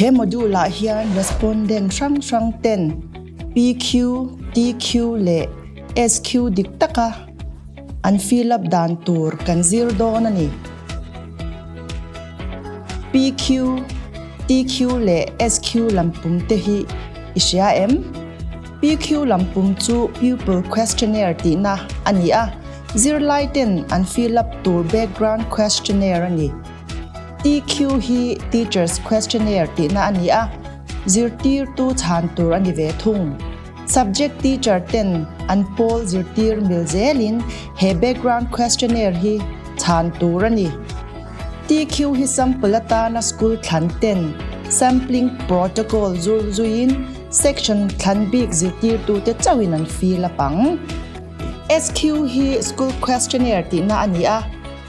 He module ah hian respondent hrang hrang ten PQ, TQ leh SQ dik taka an fill up dan tur kan zir dawn a ni. PQ, TQ leh SQ lam pum te hi i hria em? PQ lam pum chu Pupil Questionnaire tihna a ni a, zirlaiten an fill up tur Background Questionnaire a ni. TQ hi Teachers Questionnaire tihna a ni a, zirtirtu chhan tur a ni ve thung. Subject Teacher ten an pawl zirtir mil zelin he Background Questionnaire hi chhan tur a ni. TQ hi Sample atana School thlan ten Sampling Protocol zurzuiin, Section thlan bik zirtirtute chauhin an fill a pang. SQ hi School Questionnaire tihna a ni a,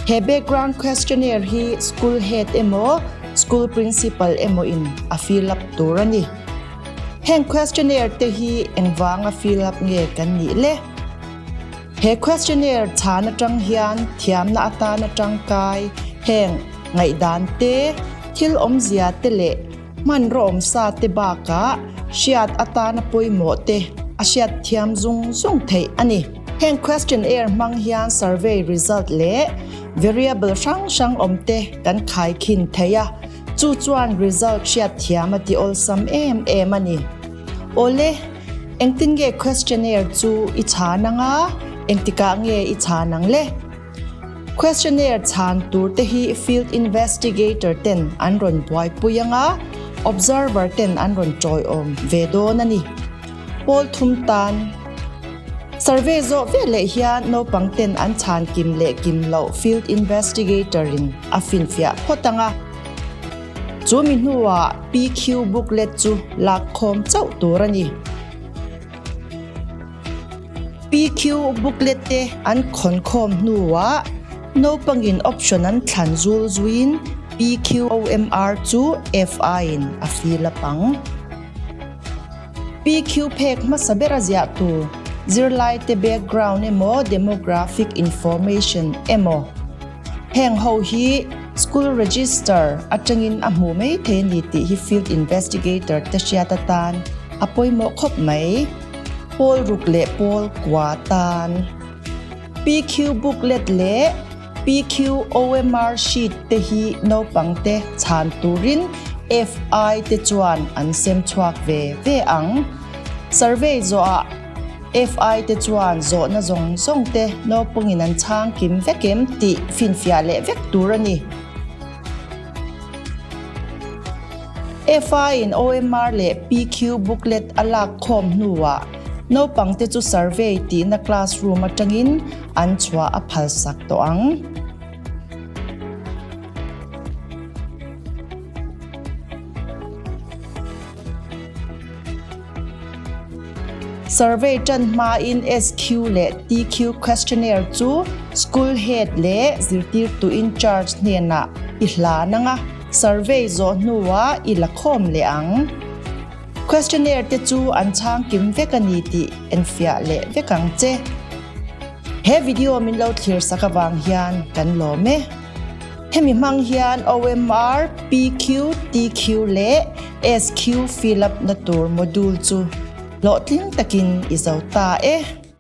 he Background Questionnaire hi School Head emaw School Principal emawiin a fill up tur a ni. Heng Questionnaire te hi engvanga fill up nge kan nih le? He Questionnaire chhan atang hian thiamna atan atangkai heng ngaihdante, thil awmzia te leh, Hmanrawm sa te bakah hriat atana pawimawh te a hriat thiam zung zung theih a ni. Heng questionnaire hmang hian survey result leh variable hrang hrang awm te kan khai khin theih a, chu chuan result hriat thiam a ti awlsam em em a ni. Awle, engtin nge questionnaire chu i chhan ang a, engtikah nge i chhan ang le? Questionnaire chhan tur te hi field investigator ten an rawn buaipui anga observer ten an rawn tawihawm ve dawn a ni. Pawl thum tan Survey zawh ve leh hian naupang ten an chhan kim leh kim loh field investigator in a fin fiah phawt anga chu mi hnuah PQ booklet chu lak khawm chauh tur a ni. PQ booklet te an khawnkhawm hnuah naupangin option an thlan zul zuiin PQOMR chu FI-in a fill a pang. PQ phek hmasa bera ziah tur zirlaite background emaw demographic information emaw heng ho hi school register atangin a hmuh maithei a ni tih hi field investigator te hriat atan a pawimawh khawp mai. Pawl ruk leh pawl kua tan, PQ booklet leh PQ OMR sheet te hi naupangte chhan turin FI te chuan an sem chhuak ve ve ang. Survey zawhah FI te chuan zawhna zawng zawng te naupangin an chhang kim vek em tih finfiah leh vek tur a ni. FI-in OMR leh PQ booklet a lak khawm hnuah naupangte chu survey tihna classroom atangin an chhuah a phalsak tawh ang. Survey ṭan hmain SQ leh TQ questionnaire chu school head leh zirtirtu in charge hnenah i hlan ang a, survey zawh hnuah i la khawm leh ang. Questionnaire te chu an chhang kim vek a ni tih enfiah leh vek ang che. He video min lo thlir sak avang hian kan lawm e. Hemi hmang hian OMR, PQ, TQ leh SQ fill up na tur module chu hlawhtling takin i zo ta e.